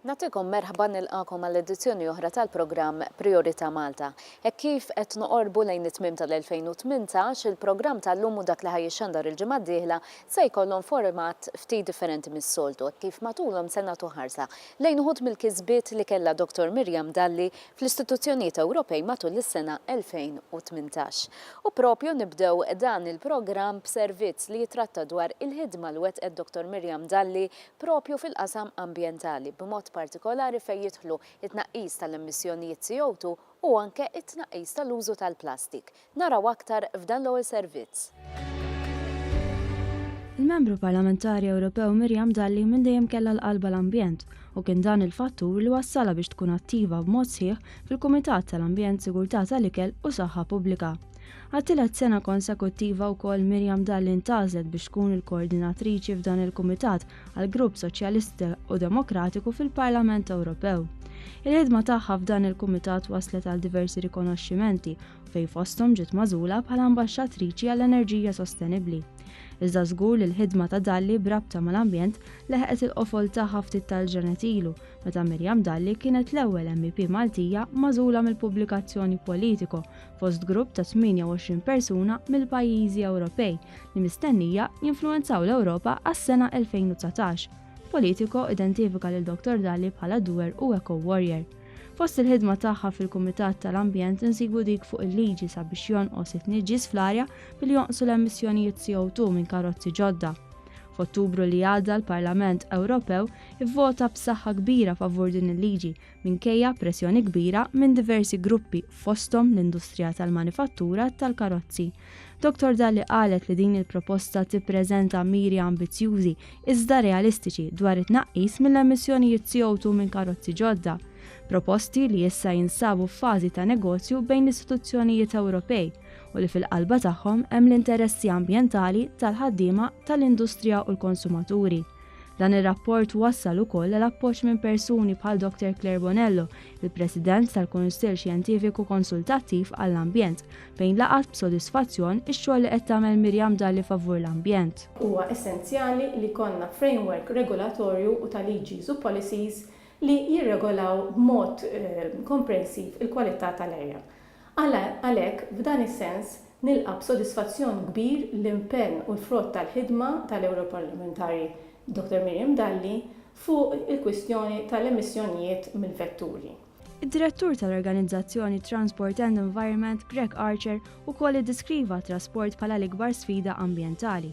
Nagħtikom merħba nilqakom għal edizzjoni oħra tal-programm Priorità Malta. Hekk kif qed noqorbu lejn it-tmiem tal-2018, il-programm tal-lum u dak li ħajjixxandar il-ġimgħa d-dieħla se jkollhom format ftit differenti mis-soltu, kif matulhom se nagħtu ħarsa lejn uħud mill-kisbiet li kellha Dottor Miriam Dalli fl-istituzzjonijiet Ewropej matul is-sena 2018. U proprju nibdew dan il-programm b'servizz li jitratta dwar il-ħidma li wettqet Dottor Miriam Dalli proprju fil-qasam ambjentali, b'mod partikolari fejn jidħlu t-tnaqqis tal-emissjonijiet CO2 u anke t-tnaqqis tal-użu tal-plastik. Naraw aktar f'dan l-ewwel servizz. Il-Membru Parlamentari Ewropew Miriam Dalli minn dejjem kellha l-qalb għall-ambjent u kien dan il-fattur li wassalha biex tkun attiva b'mod sħiħ fil-Kumitat tal-Ambjent, Sigurtà tal-Ikel u Saħħa Pubblika. Għat-tielet sena konsekuttiva wkoll Miriam Dalli ntgħażlet biex tkun il-koordinatriċi f'dan il-kumitat għal Grupp Soċjalista u Demokratiku fil-Parlament Ewropew. Il-ħidma tagħha f'dan il-kumitat waslet għal diversi rikonoxximenti fej fosthom ġiet mażula bħala ambaxxatriċi għall-enerġija sostenibbli. Iżda żgur li l-ħidma ta' Dalli brabta mal-ambjent leħqet il-qofol tagħha ftit tal-ġranet ilu meta Mirjam Dalli kienet l-ewwel MEP Maltija mażula mill-pubblikazzjoni Politico fost grupp ta' 28 persuna mill-pajjiżi Ewropej li mistennija jinfluwenzaw l-Ewropa għas-sena 2019. Politico identifika lil Dr. Dalli bħala doer u eco-warrior. Fost il-ħidma tagħha fil-Kumitat tal-Ambjent insibu dik fuq il-liġi sabiex jonqos it-tniġġis fl-arja billi jonqsu l-emissjonijiet CO2 minn karozzi ġodda. F'Ottubru li għadda l-Parlament Ewropew ivvota b'saħħa kbira favur din il-liġi minkejja pressjoni kbira minn diversi gruppi fosthom l-industrija tal-manifattura tal-karozzi. Dr Dalli qalet li din il-proposta tippreżenta miri ambizzjużi iżda realistiċi dwar it-tnaqqis mill-emissjonijiet CO2 minn karozzi ġodda, proposti li issa jinsabu f'fażi ta' negozju bejn l-istituzzjonijiet Ewropej u li fil-qalba tagħhom hemm l-interessi ambjentali tal-ħaddiema tal-industrija u l-konsumaturi. Dan ir-rapport wassal ukoll għal appoġġ minn persuni bħal Dr. Claire Bonello, il-President tal-Kunsill Xjentifiku Konsultattiv għall-Ambjent, fejn laqgħet b'sodisfazzjon ix-xogħol li qed tagħmel Miriam Dalli favur l-ambjent. Huwa essenzjali li jkollna framework regolatorju u ta' liġis u policies li jirregolaw b'mod komprensiv il-kwalità tal-arja. Għalhekk, f'dan is-sens, nilqa' b'sodisfazzjon kbir l-impenn u l-frott tal-ħidma tal-Ewroparlamentari Dottor Miriam Dalli fuq il-kwistjoni tal-emissjonijiet mill-vetturi. Id-Direttur tal-organizzazzjoni Transport and Environment, Greg Archer, ukoll iddeskriva t-trasport bħala l-ikbar sfida ambjentali,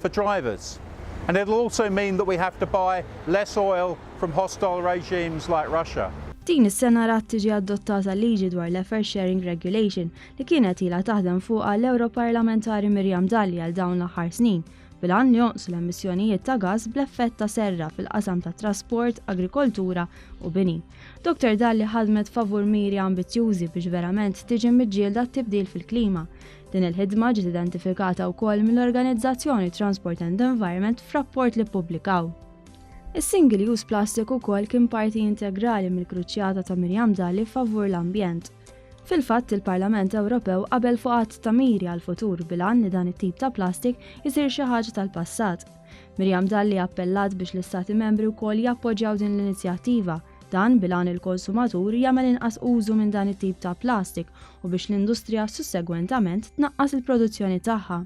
for drivers and it'll also mean that we have to buy less oil from hostile regimes like Russia. Din is-sena rat tiġi adottata liġi dwar l-Effort Sharing Regulation li kienet ilha taħdem fuqha l-Ewroparlamentari Miriam Dalli għal dawn l-aħħar snin bil-għan li jonqsu l-emissjonijiet ta' gass bl-effett ta' serra fil-qasam ta' trasport, agrikoltura u bini. Dr. Dalli ħadmet favur miri ambizzjużi biex verament tiġi miġġielda t-tibdil fil-klima. Din il-ħidma ġiet identifikata wkoll mill-organizzazzjoni Transport and Environment f'rapport li ppubblikaw. Is-single use plastic ukoll kien parti integrali mill-kruċjata ta' Miriam Dalli favur l-ambjent. Fil-fatt il-Parlament Ewropew qabel fuq għadd ta' miri għall-futur bilan li dan it-tip ta' plastik isir xi ħaġa tal-passat. Miriam Dalli appellat biex l-Istati Membri wkoll jappoġġjaw din l-inizjattiva Dan bil-għan il-konsumatur jagħmel inqas użu minn dan it-tip ta' plastik u biex l-industrija sussegwentament tnaqqas il-produzzjoni tagħha.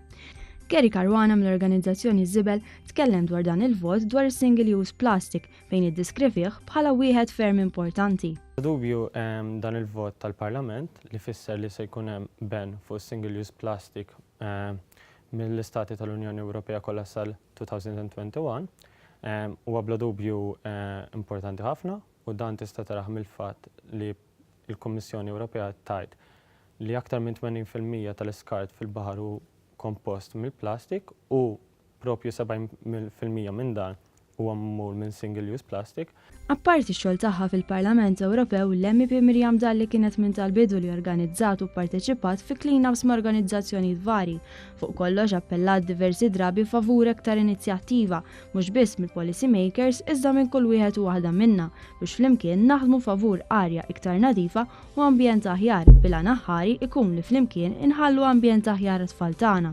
Gary Caruana mill-organizzazzjoni Żibel tkellem dwar dan il-vot dwar is-single use plastic fejn iddiskrivih bħala wieħed ferm importanti. Bla dubju dan il-vot tal-Parlament li fisser li se jkun hemm ban fuq is-single use plastic mill-istati tal-Unjoni Ewropea kollha sal 2021 huwa bla dubju importanti ħafna u dan tista' tarah mill-fatt li l-Kummissjoni Ewropea tgħid li aktar minn 80 fil-mija tal-iskart fil-baħar hu kompost mill-plastik u proprju 70 fil-mija minn dan huwa magħmul minn single-use plastic Apparti x-xogħol tagħha fil-Parlament Ewropew, l-MEP Miriam Dalli kienet minn tal-bidu li organizzat u pparteċipat fi clean-ups ma' organizzazzjonijiet varji. Fuq kollox appellat diversi drabi favur aktar inizjattiva, mhux biss mill-policy makers iżda minn kull wieħed u waħda minna biex flimkien naħdmu favur arja iktar nadifa u ambjent aħjar bil-għan aħħari jkun li flimkien inħallu ambjent aħjar għat-tfal tagħna.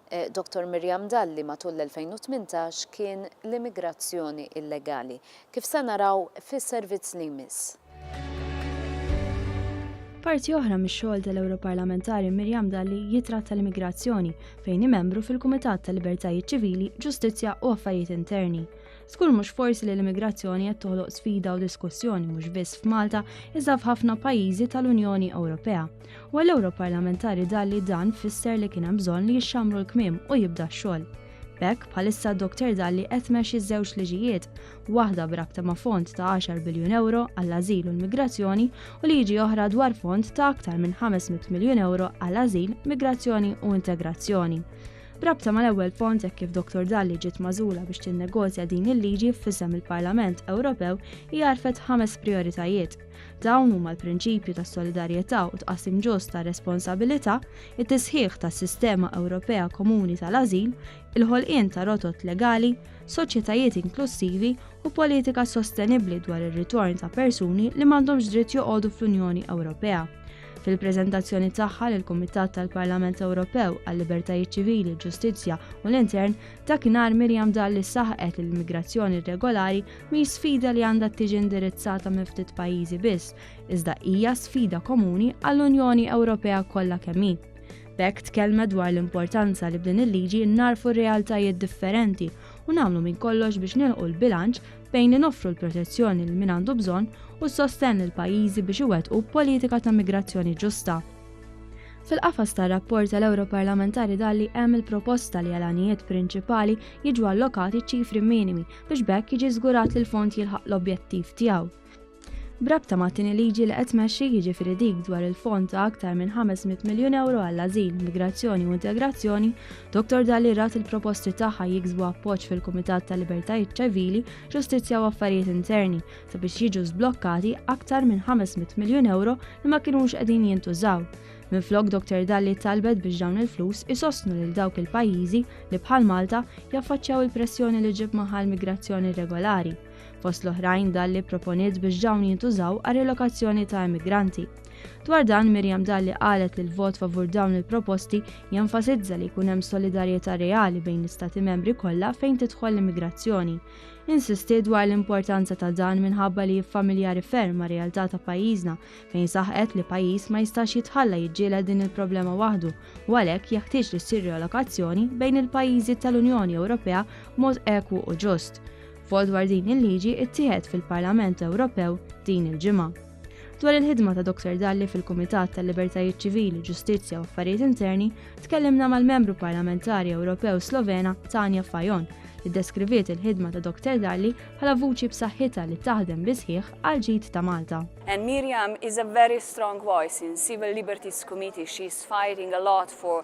Dottor Miriam Dalli matul l-2018 kien l-immigrazzjoni illegali. Kif se naraw fis-servizz li jmiss. Parti oħra mix-xogħol tal-Ewroparlamentari Miriam Dalli jitratta l-immigrazzjoni, fejn hi membru fil-Kumitat tal-Libertajiet Ċivili, Ġustizzja u Affarijiet Interni. Skur mhux forsi li l-immigrazzjoni qed toħloq sfida u diskussjoni mhux biss f'Malta iżda f'ħafna pajjiżi tal-Unjoni Ewropea. U għall Parlamentari dalli dan fisser li kien hemm bżonn li jixxamru l-kmiem u jibda x-xogħol. B'hekk bħalissa Dr. Dalli qed mexxi żewġ liġijiet, waħda b'rabta ma' fond ta' 10 biljun euro għall-ażil u l-migrazzjoni u liġi oħra dwar fond ta' aktar minn 500 miljun euro għall-ażil, migrazzjoni u integrazzjoni. B'rabta mal-ewwel pont hekk kif Dr. Dalli ġiet magħżula biex tinnegozja din il-liġi f'isem il-Parlament Ewropew hija għarfet ħames prijoritajiet. Dawn huma l-prinċipju ta' solidarjetà u tqassim ġust ta' responsabilità, it-tisħiħ tas-sistema Ewropea komuni tal-ażil, il-ħolqien ta' rotot legali, soċjetajiet inklussivi u politika sostenibbli dwar ir-ritorn ta' persuni li m'għandhomx dritt joqogħdu fl-Unjoni Ewropea. Fil-preżentazzjoni tagħha lill-Kumitat tal-Parlament Ewropew għal-Libertajiet Ċivili, Ġustizzja u l-Intern, dakinhar Miriam Dalli saħqet li l-migrazzjoni irregolari mhi sfida li għandha tiġi indirizzata minn ftit pajjiżi biss, iżda hija sfida komuni għall-Unjoni Ewropea kollha kemm hi. B'hekk tkellmet dwar l-importanza li b'din il-liġi narfu r-realtajiet differenti u nagħmlu minn kollox biex nilqu l-bilanċ bejn li noffru l-protezzjoni lil min għandu bżonn u s-sostenn lil pajjiżi biex iwettqu politika ta' migrazzjoni ġusta. Fil-qafas tar-rapport tal-Ewroparlamentari Dalli hemm il-proposta li għal għanijiet prinċipali jiġu allokati ċifri minimi biex b'hekk jiġi żgurat li l-fond jilħaq l-objettiv tiegħu. B'rabta mat-tieni liġi li qed tmexxi jiġifieri dik dwar il-fond ta' aktar minn 500 miljun euro għall-ażil, migrazzjoni u integrazzjoni, Dottor Dalli rat il-proposti tagħha jiksbu appoġġ fil-Kumitat ta' Libertajiet Ċivili, Ġustizzja u Affarijiet Interni sabiex jiġu żblokkati aktar minn 500 miljun euro li ma kinux qegħdin jintużaw. Minflok Dr Dalli talbet biex dawn il-flus isostnu lil dawk il-pajjiżi li bħal Malta jaffaċċjaw il-pressjoni li ġib magħha l-migrazzjoni irregolari. Fost l-oħrajn Dalli proponiet biex dawn jintużaw għal relokazzjoni ta' emigranti. Dwar dan Mirjam Dalli qalet li l-vot favur dawn il-proposti jenfasizza li jkun hemm solidarjetà reali bejn l-istati membri kollha fejn tidħol l-immigrazzjoni. Insisti dwar l-importanza ta' dan minħabba li jiffamiljari ferm ma' realtà ta' pajjiżna fejn saħqet li pajjiż ma jistax jitħalla jiġġieled din il-problema waħdu u għalhekk jeħtieġ li ssir relokazzjoni bejn il-pajjiżi tal-Unjoni Ewropea mod ekwu u ġust. Vot dwar din il-liġi ittieħed fil-Parlament Ewropew din il-ġimgħa. Dwar il-ħidma ta' Dr. Dalli fil-Kumitat tal-Libertajiet Ċivili, Ġustizzja u Affarijiet Interni, tkellimna mal-Membru Parlamentari Ewropew Slovena Tanja Fajon li deskriviet il-ħidma ta' Dr. Dalli bħala vuċi b'saħħitha li taħdem bi sħiħ għal ġid ta' Malta. And Miriam is a very strong voice in Civil Liberties Committee. She's fighting a lot for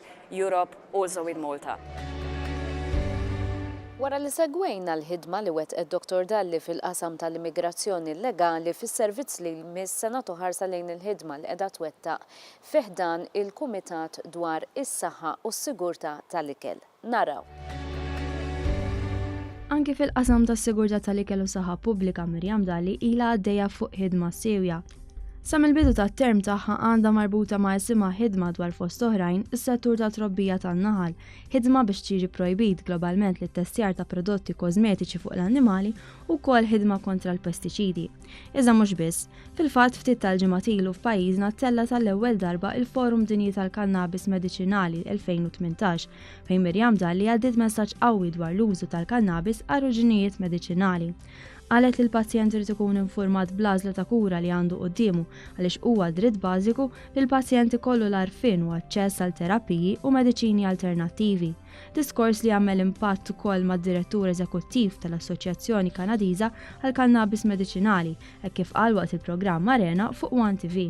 Europe also in Malta. Wara li segwejna l-ħidma li wettqet Dottor Dalli fil-qasam tal-immigrazzjoni llegali fis-servizz li jmiss se nagħtu ħarsa lejn il-ħidma li qiegħda twettaq fi ħdan il-Kumitat dwar is-Saħħa u s-Sigurtà tal-Ikel. Naraw. Anki fil-qasam tas-sigurtà tal-ikel u s-saħħa pubblika Miriam Dalli ilha għaddejja fuq ħidma siewja. Sa mill-bidu tat-term tagħha għandha marbuta ma' isimha ħidma dwar fost oħrajn is-settur ta' trobbija tan-naħal, ħidma biex tiġi projbit globalment li testjar ta' prodotti kożmetiċi fuq l-annimali u wkoll ħidma kontra l-pestiċidi. Iżda mhux biss, fil-fatt ftit tal-ġimgħat ilu f'pajjiżna ttella tal-ewwel darba il-Forum Dinji tal-Kannabis Mediċinali 2018 fejn Mirjam Dalli għaddiet messaġġ qawwi dwar l-użu tal-kannabis għal ruġinijiet mediċinali. Qalet li l-pazjent irid ikun infurmat bl-għażla ta' kura li għandu quddiemu għaliex huwa dritt bażiku li l-pazjent ikollu l-għarfien u aċċess għal terapiji u mediċini alternattivi. Diskors li għamel impatt ukoll mad-Direttur Eżekuttiv tal-Assoċjazzjoni Kanadiża għall-Kannabis Mediċinali hekk kif qal waqt il-programm Arena fuq one TV.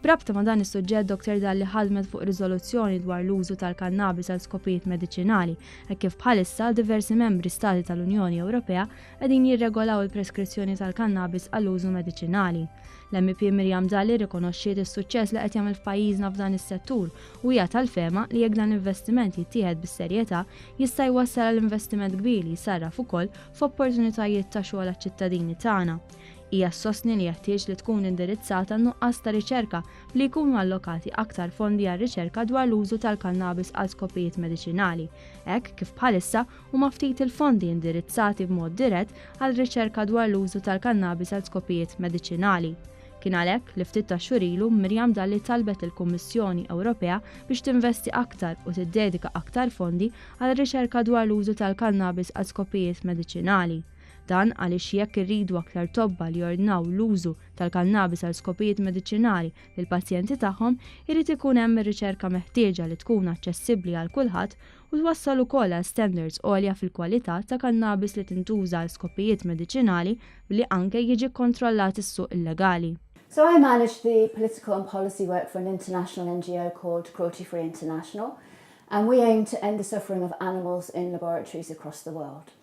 B'rabta ma' dan is-suġġett Dottor Dalli ħadmet fuq riżoluzzjoni dwar l-użu tal-kannabis għal skopijiet mediċinali hekk kif bħalissa diversi membri stati tal-Unjoni Ewropea qegħdin jirregolaw il-preskrizzjoni tal-kannabis għall-użu mediċinali. L-MEP Miriam Dalli rrikonoxxiet is-suċċess li qed jagħmel f'pajjiżna f'dan is-settur u hija tal-fehma li jekk dan l-investiment jittieħed bis-serjetà jista' jwassal għal investiment kbir li jsarraf ukoll f'opportunitajiet ta' xogħol għaċ-ċittadini tagħna Hija ssostni li jeħtieġ li tkun indirizzata n-nuqqas ta' riċerka b'li jkunu allokati aktar fondi għar-riċerka dwar l-użu tal-kannabis għal skopijiet mediċinali, hekk kif bħalissa huma ftit il-fondi indirizzati b'mod dirett għal riċerka dwar l-użu tal-kannabis għal skopijiet mediċinali. Kien għalhekk li ftit tax-xhur ilu Miriam Dalli talbet lill-Kummissjoni Ewropea biex tinvesti aktar u tiddedika aktar fondi għal riċerka dwar l-użu tal-kannabis għal skopijiet mediċinali. Dan għaliex jekk irridu aktar tobba li jordnaw l-użu tal-kannabis għal skopijiet mediċinali lill-pazjenti tagħhom, irid ikun hemm ir-riċerka meħtieġa li tkun aċċessibbli għal kulħadd u twassal ukoll għal standards għolja fil-kwalità ta' kannabis li tintuża għal skopijiet mediċinali billi anke jiġi kkontrollat is-suq illegali. So I manage the political and policy work for an international NGO called Cruelty Free International and we aim to end the suffering of animals in laboratories across the world.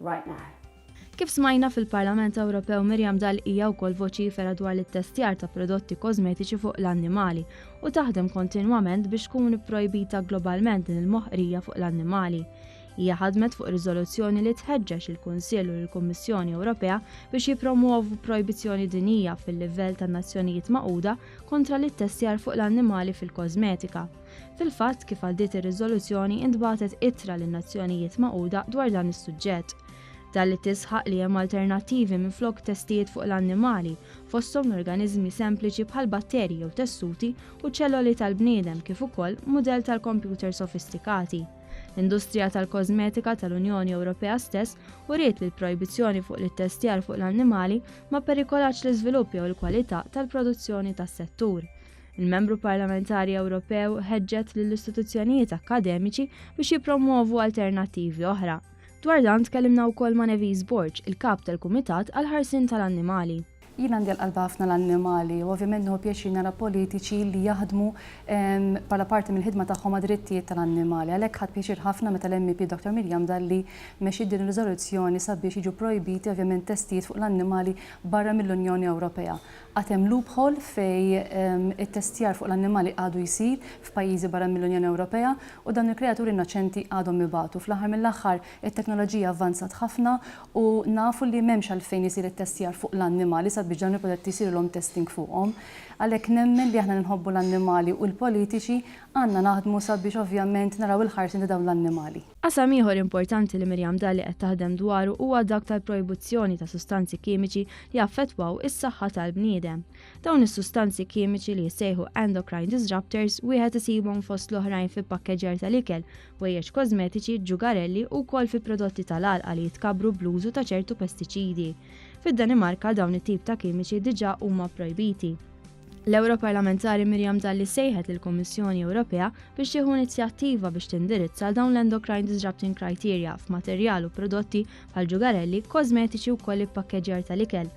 right now. Kif smajna fil-Parlament Ewropew Miriam Dalli hija wkoll voċifera dwar l-ittestjar ta' prodotti kożmetiċi fuq l-annimali u taħdem kontinwament biex tkun ipprojbita globalment din il-moħqrija fuq l-annimali. Hija ħadmet fuq riżoluzzjoni li tħeġġeġ il-Kunsill u l-Kummissjoni Ewropea biex jippromuovu projbizzjoni dinija fil-livell tan-Nazzjonijiet Magħquda kontra l-ittestjar fuq l-annimali fil-kożmetika. Fil-fatt, kif għal dit ir-riżoluzzjoni intbagħtet ittra lin-Nazzjonijiet Magħquda dwar dan is-suġġett. Dan li tisħaq li hemm alternattivi minflok testijiet fuq l-annimali, fosthom l-organiżmi sempliċi bħal batterji jew tessuti u ċelloli tal-bniedem kif ukoll mudell tal-kompjuter sofistikati. L-industrija tal-kożmetika tal-Unjoni Ewropea stess uriet li l-projbizzjoni fuq l-ittestjar fuq l-annimali ma perikolatx l-iżvilupp jew il-kwalità tal-produzzjoni tas-settur. Il-Membru Parlamentari Ewropew ħeġġet lill-istituzzjonijiet akkademiċi biex jippromwovu alternattivi oħra. Dwar dan tkellimna wkoll ma' Nevis Borg, il-kap tal-Kumitat għal ħarsien tal-Annimali. Jien għandi l-qalba ħafna l-annimali u ovvjament nieħu pjaċir nara politiċi li jaħdmu ehm, bħala parti mill-ħidma tagħhom għad-drittijiet tal-annimali. Għalhekk ħadd pjaċir ħafna meta l-MEP Dr. Mirjam Dalli mexxiet din ir-riżoluzzjoni sabiex jiġu projbiti ovvjament testijiet fuq l-annimali barra mill-Unjoni Ewropea. Għad hemm loophole fejn it-testjar fuq l-annimali għadu jsir f'pajjiżi barra mill-Unjoni Ewropea u dawn il-kreaturi innoċenti għadhom ibatu. Fl-aħħar mill-aħħar, it-teknoloġija avvanzat ħafna u nafu li m'hemmx għalfejn isir it-testjar fuq l-annimali sabiex dawn il-prodotti jsirilhom testing fuqhom. Għalhekk nemmen li aħna li nħobbu l-annimali u l-politiċi għandna naħdmu sabiex ovvjament naraw il-ħarsien ta' dawn l-annimali. Qasam ieħor importanti li Miriam Dalli qed taħdem dwaru huwa dak tal-projbuzzjoni ta' sustanzi kimiċi li jaffettwaw is-saħħa tal-bniedem. Dawn is-sustanzi kimiċi li jissejħu endocrine disruptors wieħed isibhom fost l-oħrajn fi pakkeġjar tal-ikel, wejjeġ kożmetiċi, ġugarelli u wkoll fi prodotti tal-għalqa li jitkabbru bl-użu ta' ċertu pestiċidi. Fid-Danimarka dawn it-tip ta' kimiċi diġà huma projbiti. L-Ewro Parlamentari Miriam Dalli sejħet lill kummissjoni Ewropea biex tieħu inizjattiva biex tindirizza għal dawn l-endocrine disrupting criteria f'materjal u prodotti bħal ġugarelli, kosmetiċi u koll il-pakkeġjar tal-ikel.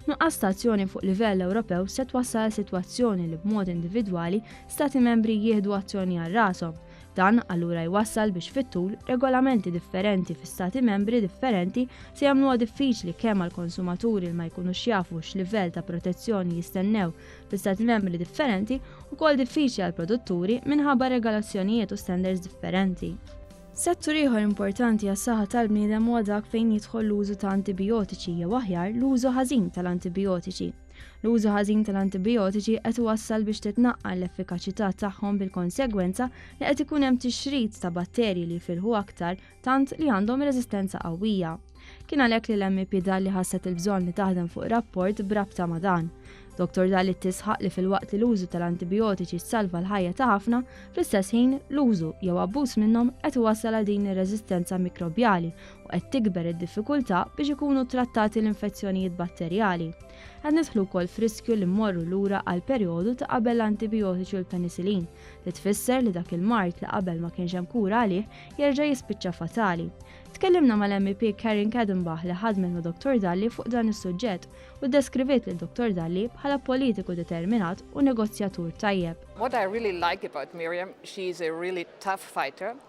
Nuqqas ta' azzjoni fuq livell Ewropew se twassal għal sitwazzjoni li b'mod individwali stati membri jieħdu azzjoni għal rashom Dan allura jwassal biex fit-tul regolamenti differenti fi stati membri differenti se jagħmluha diffiċli kemm għal konsumaturi li ma jkunux jafu x'livell ta' protezzjoni jistennew fi stati membri differenti u kol diffiċli għal produtturi minħabba regolazzjonijiet u standards differenti. Settur ieħor importanti għas saħħa tal-bniedem huwa dak fejn jidħol l-użu ta' antibiotiċi jew aħjar l-użu ħażin tal-antibiotiċi. L-użu ħażin tal-antibijotiċi qed iwassal biex titnaqqal l-effikaċità tagħhom bil-konsegwenza li qed ikun hemm tixrid ta' batterji li jfilħu aktar tant li għandhom reżistenza qawwija. Kien għalhekk li l-MP Dalli ħasset il-bżonn li taħdem fuq rapport brabta ma' dan. Dr. Dalli tisħaq li fil-waqt li l-użu tal-antibijotiċi salva l-ħajja ta' ħafna, fl-istess ħin l-użu jew abbuż minnhom qed iwassal għal din ir-reżistenza mikrobjali u qed tikber id-diffikultà biex ikunu trattati l-infezzjonijiet batterjali. Qed nidħlu wkoll f'riskju li mmorru lura għal perjodu ta' qabel l-antibijotiċi u l-penisilin, li tfisser li dak il-mart li qabel ma kienx hemm kura għalih jerġa' jispiċċa fatali. Tkellimna mal-MEP Karen Kadenbach li ħadmet ma' Dr. Dalli fuq dan is-suġġett u deskriviet lil Dr. Dalli bħala politiku determinat u negozjatur tajjeb. What I really like about Miriam, she is a really tough fighter.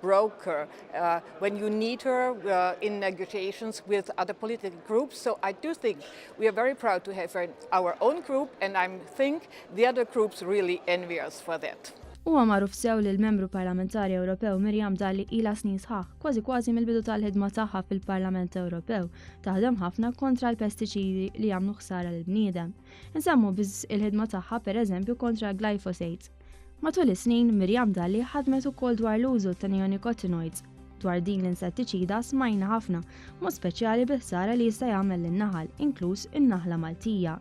broker uh, when you need her uh, in negotiations with other political groups. So I do think we are very proud to have her in our own group and I think the other groups really envy us for that. Huwa magħruf sew li l-membru parlamentari Ewropew Mirjam Dalli ila snin sħaħ, kważi kważi mill-bidu tal-ħidma tagħha fil-Parlament Ewropew, taħdem ħafna kontra l-pestiċidi li jagħmlu ħsara lill bniedem Insemmu biss il-ħidma tagħha pereżempju kontra glyphosate, Matul is-snin, Miriam Dalli ħadmet ukoll dwar l-użu ta' neonicotinoids. Dwar din l-insettiċida smajna ħafna, mod speċjali biħsara li jista' jagħmel lin-naħal, inkluż in-naħla Maltija.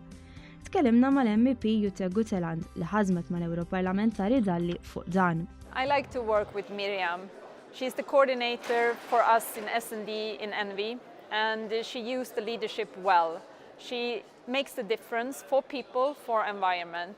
Tkellimna mal-MP Jutta Guteland li ħażmet mal-Ewroparlamentari Dalli fuq dan. I like to work with Miriam. She is the coordinator for us in S&D in Envy and she used the leadership well. She makes the difference for people, for environment.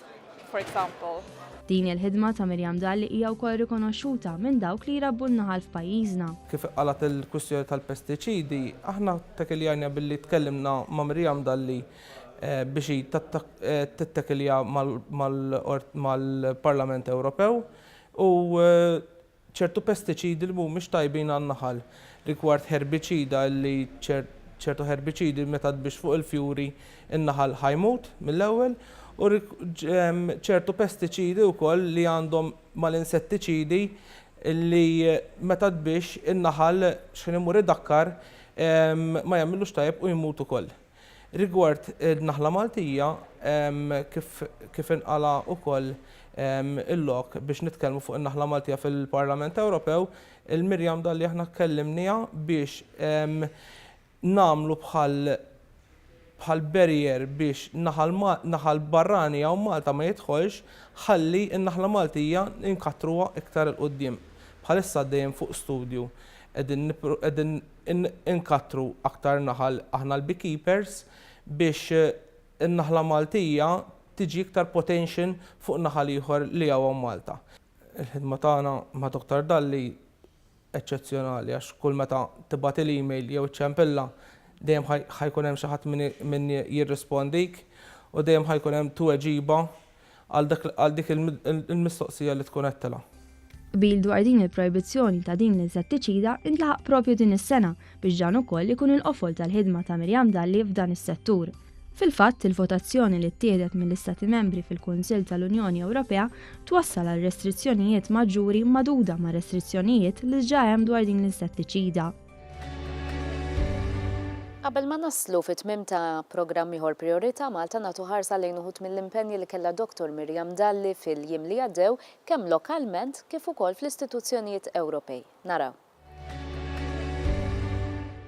for example. Din hija l-ħidma ta' Miriam Dahl li hija wkoll rikonoxxuta minn dawk li jrabbu n-naħal f'pajjiżna. Kif iqqalgħet il-kwistjoni tal-pestiċidi, aħna ttakiljanija billi tkellimna ma' Miriam Dahl li biex hi tittakilja mal-Parlament Ewropew u ċertu pestiċidi li mhumiex tajbin għan-naħal, rigward ħerbiċida li ċertu ħerbiċidi meta tbix fuq il-fjuri n-naħal ħa jmut mill-ewwel u ċertu pestiċidi wkoll li għandhom mal-insettiċidi li meta tbix in-naħal xħin imur idakkar ma jagħmillux tajjeb u jmut ukoll. Rigward il-Naħla Maltija, kif inqala wkoll il-lok biex nitkellmu fuq in-Naħla Maltija fil-Parlament Ewropew, il-Miriam Dalli aħna kkellimniha biex nagħmlu bħal bħal barrier biex naħal naħal barrani hawn Malta ma jidħolx ħalli n-Naħla Maltija inkattruha iktar 'il quddiem. Bħalissa għaddejjin fuq studju qegħdin qegħdin inkattru aktar naħal aħna l-beekeepers biex in-naħla Maltija tiġi iktar potential fuq naħal ieħor li hawn Malta. Il-ħidma tagħna ma' Doctor Dalli eċċezzjonali għax kull meta tibgħatil email jew iċċempilha dejjem ħa jkun hemm xi ħadd min jirrispondik u dejjem ħa jkun hemm tweġiba għal dik il-mistoqsija li tkun għedtilha. Qbil dwar din il-projbizzjoni ta' din l-insettiċida ntlaħaq proprju din is-sena biex dan ukoll ikun il-qofol tal-ħidma ta' Miriam Dalli f'dan is-settur. Fil-fatt, il-votazzjoni li ttieħdet mill-Istati Membri fil-Kunsill tal-Unjoni Ewropea twassal għal restrizzjonijiet maġġuri magħduda mar-restrizzjonijiet li ġġa hemm dwar din l-insettiċida. Qabel ma naslu fit-tmiem ta' programm ieħor Prijorità Malta nagħtu ħarsa lejn uħud mill-impenji li kellha Dottor Miriam Dalli fil-jiem li għaddew kemm lokalment kif ukoll fl-istituzzjonijiet Ewropej. Naraw.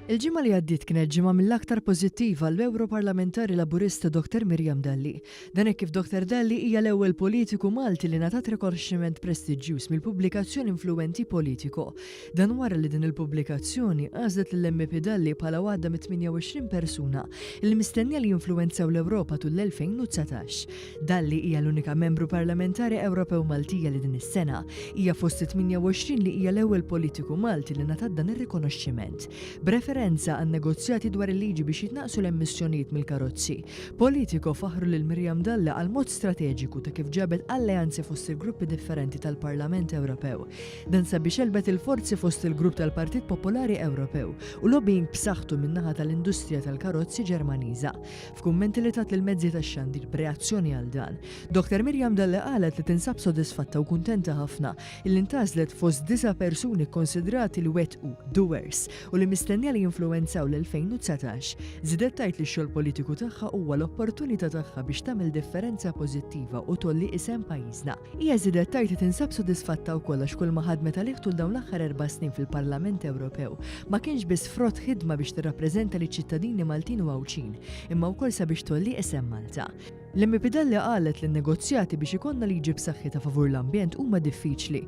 Il-ġimgħa li għaddiet kienet ġimgħa mill-aktar pożittiva għall-Ewroparlamentari Laburista Dottor Miriam Dalli. Dan hekk kif Dottor Dalli hija l-ewwel politiku Malti li ngħatat rikonoxximent prestiġġjuż mill-pubblikazzjoni influwenti Politico. Dan wara li din il-pubblikazzjoni għażlet lill-MP Dalli bħala waħda mit-28 persuna li mistennija li jinfluwenzaw l-Ewropa tul l-2019. Dalli hija l-unika Membru Parlamentari Ewropew Maltija li din is-sena hija fost it-28 li hija l-ewwel politiku Malti li ngħatat dan ir-rikonoxximent. B'referenza għan-negozjati dwar il-liġi biex jitnaqqsu l-emissjonijiet mill-karozzi, Politico faħħru lil Miriam Dalli għall-mod strateġiku ta' kif ġabet alleanzi fost il-gruppi differenti tal-Parlament Ewropew. Dan sabiex għelbet il-forzi fost il-grupp tal-Partit Popolari Ewropew u lobbying b'saħħtu min-naħa tal-industrija tal-karozzi Ġermaniża. F'kummenti li tat lill-mezzi tax-xandir b'reazzjoni għal dan, Dr Miriam Dalli qalet li tinsab sodisfatta u kuntenta ħafna illi ntgħażlet fost disa' persuni kkonsidrati li wettqu, doers, u li mistennija li jinfluwenzaw l-2019, żidet tgħid li x-xogħol politiku tagħha huwa l-opportunità tagħha biex tagħmel differenza pożittiva u tgħolli isem pajjiżna. Hija żiedet tgħid li tinsab sodisfatta wkoll għax kulma ħadmet għalih tul dawn l-aħħar erba' snin fil-Parlament Ewropew ma kienx biss frott ħidma biex tirrappreżenta liċ-ċittadini Maltin u Għawdxin, imma wkoll sabiex tgħolli isem Malta. L-MP Dalli qalet li n-negozjati biex ikollna liġi b'saħħitha favur l-ambjent huma diffiċli,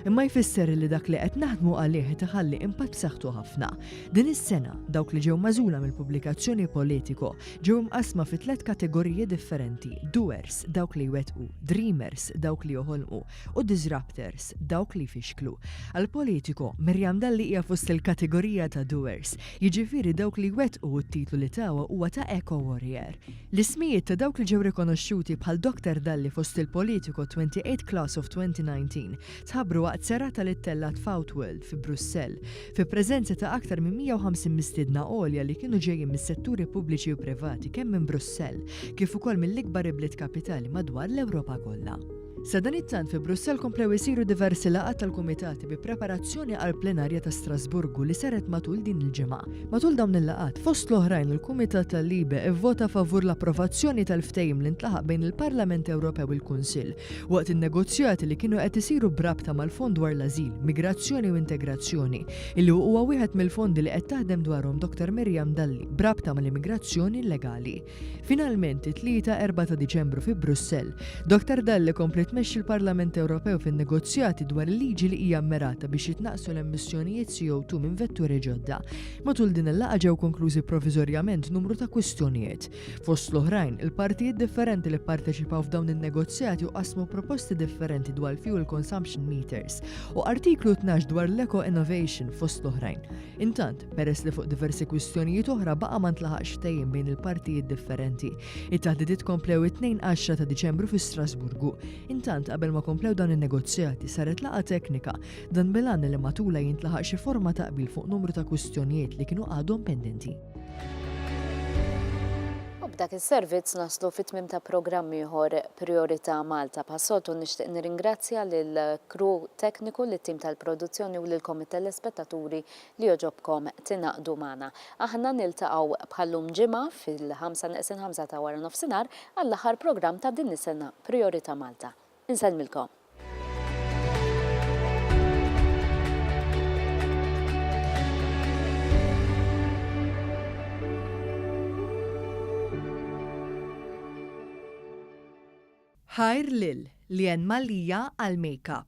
imma jfisser li dak li qed naħdmu għalih qed iħalli impatt b'saħħtu ħafna. Din is-sena, dawk li ġew magħżula mill-pubblikazzjoni Politico ġew imqassma fi tliet kategoriji differenti, doers, dawk li jwettqu, dreamers, dawk li joħolqu, u disruptors, dawk li jfixklu. Għal Politico, Miriam Dalli hija fost il-kategorija ta' doers, jiġifieri dawk li jwettqu u t-titlu li tawha huwa ta' Eco Warrior. L-ismijiet ta' dawk li ġew rikonoxxuti bħal Doctor Dalli fost il-Politico 28 Class of 2019 tħabbru waqt serata li ttellgħet f'Outworld fi Brussell, fi preżenza ta' aktar minn 150 mistiedna għolja li kienu ġejjin mis-setturi pubbliċi u privati kemm minn Brussell kif ukoll mill-ikbar ibliet kapitali madwar l-Ewropa kollha. Sadanittant fi Brussell komplew isiru diversi laqgħat tal-kumitati bi preparazzjoni għall-plenarja ta' Strasburgu li saret matul din il-ġimgħa. Matul dawn il-laqgħat, fost l-oħrajn il-Kumitat tal-LIBE ivvota favur l-approvazzjoni tal-ftehim li ntlaħaq bejn il-Parlament Ewropew il-Kunsill waqt in-negozjati li kienu qed isiru b'rabta mal-Fond dwar l-Ażil, Migrazzjoni u Integrazzjoni, illi huwa wieħed mill-fondi li qed taħdem dwarhom Dottor Miriam Dalli b'rabta mal-immigrazzjoni illegali. Finalment, it-Tlieta 4 ta' Diċembru fi Brussell, Dottor Dalli kompliet tmexxi l-Parlament Ewropew fin-negozjati dwar il-liġi li hija mmirata biex jitnaqqsu l-emissjonijiet CO2 minn vetturi ġodda. Matul din il-laqgħa ġew konklużi proviżorjament numru ta' kwistjonijiet. Fost l-oħrajn, il-partijiet differenti li pparteċipaw f'dawn in-negozjati u qasmu proposti differenti dwar l-fuel consumption meters u Artiklu 12 dwar l-eco-innovation fost l-oħrajn. Intant, peress li fuq diversi kwistjonijiet oħra baqa' ma ntlaħaqx ftehim bejn il-partijiet differenti, it-taħdidiet komplew it-Tnejn għaxra ta' Diċembru fi Strasburgu. Intant, qabel ma komplew dawn in-negozjati, saret laqgħa teknika, dan bil-għan li matulha jintlaħaq xi forma ta' qbil fuq numru ta' kwistjonijiet li kienu għadhom pendenti. U b'dak is-servizz naslu fi tmiem ta' programm ieħor Prijorità Malta. Bħas-soltu nixtieq nirringrazzja lill-crew tekniku, lit-tim tal-produzzjoni u lilkom it-telespettaturi li jogħġobkom tingħaqdu magħna. Aħna niltaqgħu bħal-lum Ġimgħa fil-ħamsa neqsin ħamsa ta' waranofsinhar għall-aħħar programm ta' din is-sena Prijorità Malta. Insellmilkom. Ħajr lil Leanne Mallia għall-makeup.